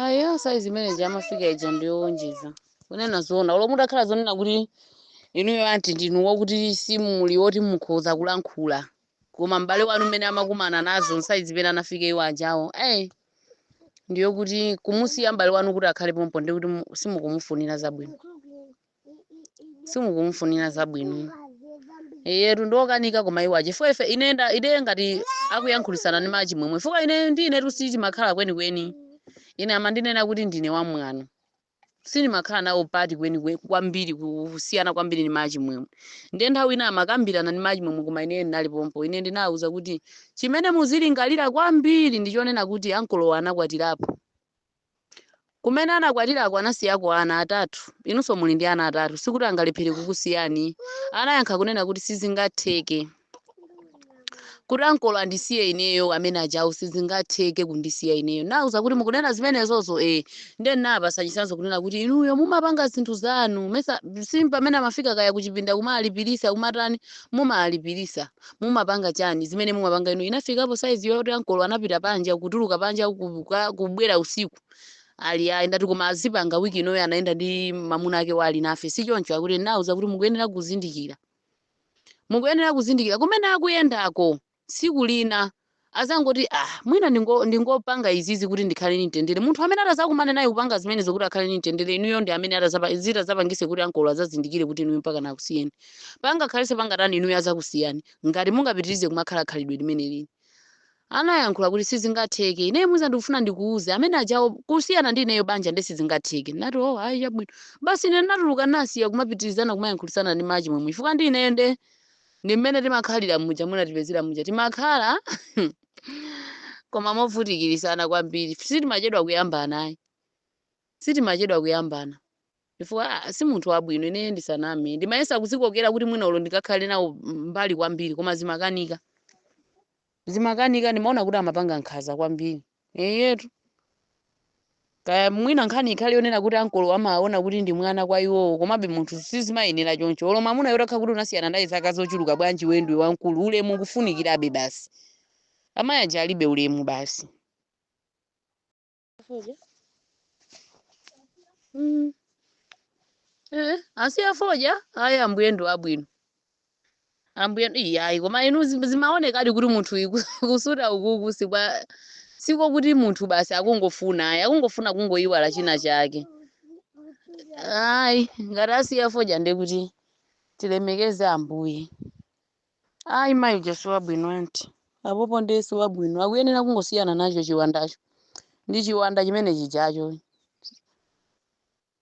aya saizi imene ija amafika ija ndiyowonjeza kunena zoona ulo mutakhala zonena kuti inuyo anti ndinu wokuti simuli woti mukhoza kulankhula koma m'bale wanu mmene amakumana nazo saizi imene anafika iwo ajawo ayi ndiyokuti kumusiya m'bale wanu kuti akhale pompo ndi kuti mu- simukumufunira zabwino simukumfunira zabwino eyetu ndi yokanika koma iwo aja chifukwa ife ine nda- ine ngati akuyankhulisana ndi mai Chimwemwe chifukwa ine ndi inetu sitimakhala kwenikweni ine amandinena kuti ndine wamwano sindimakhala nawo mbali kwenikweni kwambiri ku- kusiyana kwambiri ndi mai Chimwemwe ndiye nthawi ina amakambirana ndi mai Chimwemwe koma ine ndinali pompo ine ndinawuza kuti chimene muzilingalira kwambiri ndi chonena kuti ankolowa anakwatirapo Kumene anakwatirako anasiyako ana atatu. Inunso muli ndi ana atatu, sikuti angalephere kukusiyani. Anayankha kunena kuti, Sizingatheke kuti ankolo andisiye ineyo, amene ajawo sizingatheke kundisiya ineyo. Nauza kuti, Mukunena zimenezozo? E, nde nawapasa chitsanzo kunena kuti, inuyo mumapanga zinthu zanu, mesa pamene amafika kaya kuchipinda kumalipirisa kumatani, mumalipirisa. mumapanga chani zimene mumapanga inu inafikapo saizi yoti ankolo anapita panja kutuluka panja kuka- kubwera usiku ali ayi ndithu koma azipanga wiki inoyo anayenda ndi mamuna ake ali nafe si choncho akuti nauza kuti mukuyenera kuzindikira mukuyenera kuzindikira kumene akuyendako tsiku lina azangoti ah mwina ndingo ndingopanga izizi kuti ndikhale ndi mtendere munthu amene atazakumane naye kupanga zimenezo kuti akhale ndi mtendere inuyo ndi amene atazapa atazapangise kuti ankolo azazindikire kuti inuyo mpaka akusiyeni pangakhalese pangatani inuyo azakusiyani ngati mungapitirize kumakhala khalidwe limeneli anayankhula kuti sizingatheke ineyo mwina ndikufuna ndikuuze amene ajawo kusiyana ndi ineyo banja nde sizingatheke ndinati oh hayi chabwino basi ine ndinatuluka nasiya kumapitirizana kumayankhulisana ndi mai Chimwemwe chifukwa ndi ineyo nde ndi mmene timakhalira muja munatipezera muja timakhala koma movutikirisana kwambiri sitimachedwa kuyambana ayi sitimachedwa kuyambana chifukwa ah, si munthu wabwino ineyo ndisaname ndimayesa kuzikokera kuti mwina ulo ndikakhale nawo mbali kwambiri koma zimakanika zimakanika ndimaona kuti amapanga nkhaza kwambiri Eyetu. Kaya mwina nkhani ikhale yonena kuti ankolo amaona kuti ndi mwana kwa iwowo komabe munthu sizimayenera choncho. Olo mwamuna utakhala kuti unasiyana naye zaka zochuluka bwanji iweyo ndiwe wamkulu ulemu ukufunikirabe basi. Amayi aja alibe ulemu basi. Mm. Eh, asiya fodya? Ai ambuye ndi wabwino. ambuye iyi ayi koma inu zim- zimaonekadi kuti munthu uyu ku- kusuta ukuku si kwa siko kuti munthu basi akungofuna ayi akungofuna kungoyiwala china chake ayi ngati asiya fodya nde kuti tilemekeze ambuye ayi mayi uja si wabwino anti apopo ndiye si wabwino akuyenera kungosiyana nacho chiwandacho ndi chiwanda chimene chijacho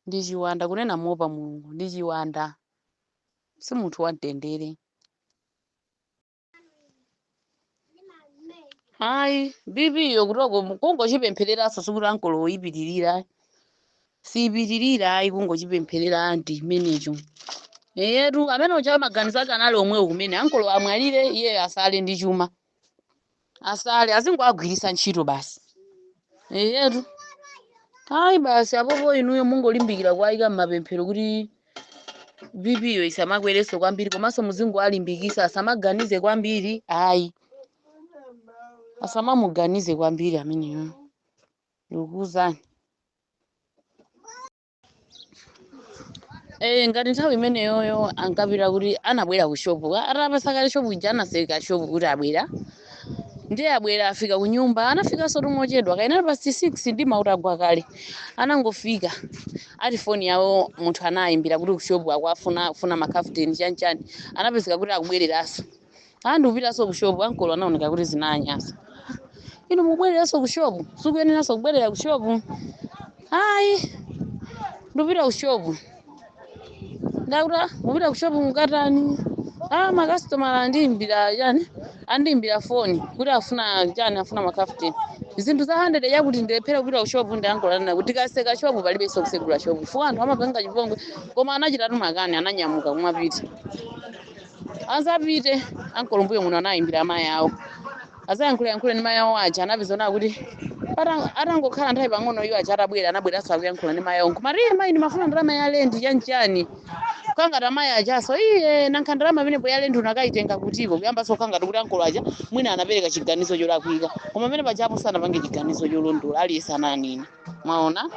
Ndi chiwanda, kunena moopa Mulungu, ndi chiwanda. Si munthu wamtendere. Ayi, BP yo kutoko kungochipemphereranso sikuti ankolowo ipitilira. Siipitilira ayi kungochipempherera anti chimenecho. Eyetu amene uja amaganizo ake anali omwewo kumene ankolo amwalire iyeyo asale ndi chuma. asale azingowagwiritsa ntchito basi eyetu ayi basi apopo inuyo mungolimbikira kuwayika m'mapemphero kuti bp yo isamakwerenso kwambiri komanso muzingowalimbikisa asamaganize kwambiri ayi asamamuganize kwambiri ameneyo ndikukuwuzani Eh, ngati nthawi imeneyoyo ankapita kuti anabwera ku shopu Ka- atapasa kale shopu ija anaseka shopu kuti abwera ndiye abwera afika ku nyumba anafikanso tumochedwa kaya inali past 6 ndi mautagwa kale anangofika ati foni yawo munthu anayimbira kuti ku shopu akuwafuna akufuna makafuteni chani chani anapezeka kuti akubwereranso Ah, ndikupitanso ku shop ankolo anaoneka kuti zinanyasa. Inu mubwereranso ku shop, sukuyeneranso kubwerera ku shop. Ayi, ndikupita ku shop. Nda kuti mupita ku shop mukatani. Ah, makasitomala andiimbira chani? Andiimbira foni kuti afuna chani, afuna makafuteni. Zinthu za 100 yakuti ndilephera kupita ku shop ndi ankolo anena kuti tikaseka shop palibenso kusegula shop. Chifukwa anthu amapanga chipongwe koma anachitatu makani ananyamuka kumapita. Atapita ankolo mbuyo muno anayimbira amayi awo azayankhulayankhule ndi mayi awo aja anapeza zoona kuti patang- atangokhala nthawi pang'ono iwo aja atabwera anabweranso akuyankhula ndi mayi awo nkumati iye mayi ndimafuna ndalama ya lendi chanchani kukhala ngati amayi ajanso iye nanga ndalama pamenepo ya lendi unakayitenga kutiko kuyambanso kukhala ngati kuti ankolo aja mwina anapereka chiganizo cholakwika koma pamene pajapo sanapange chiganizo cholondola aliyense ananena mwaona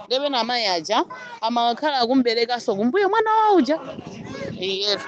ndiye pena amayi aja amakhala akum'berekanso kumbuyo mwana wawo uja iyetu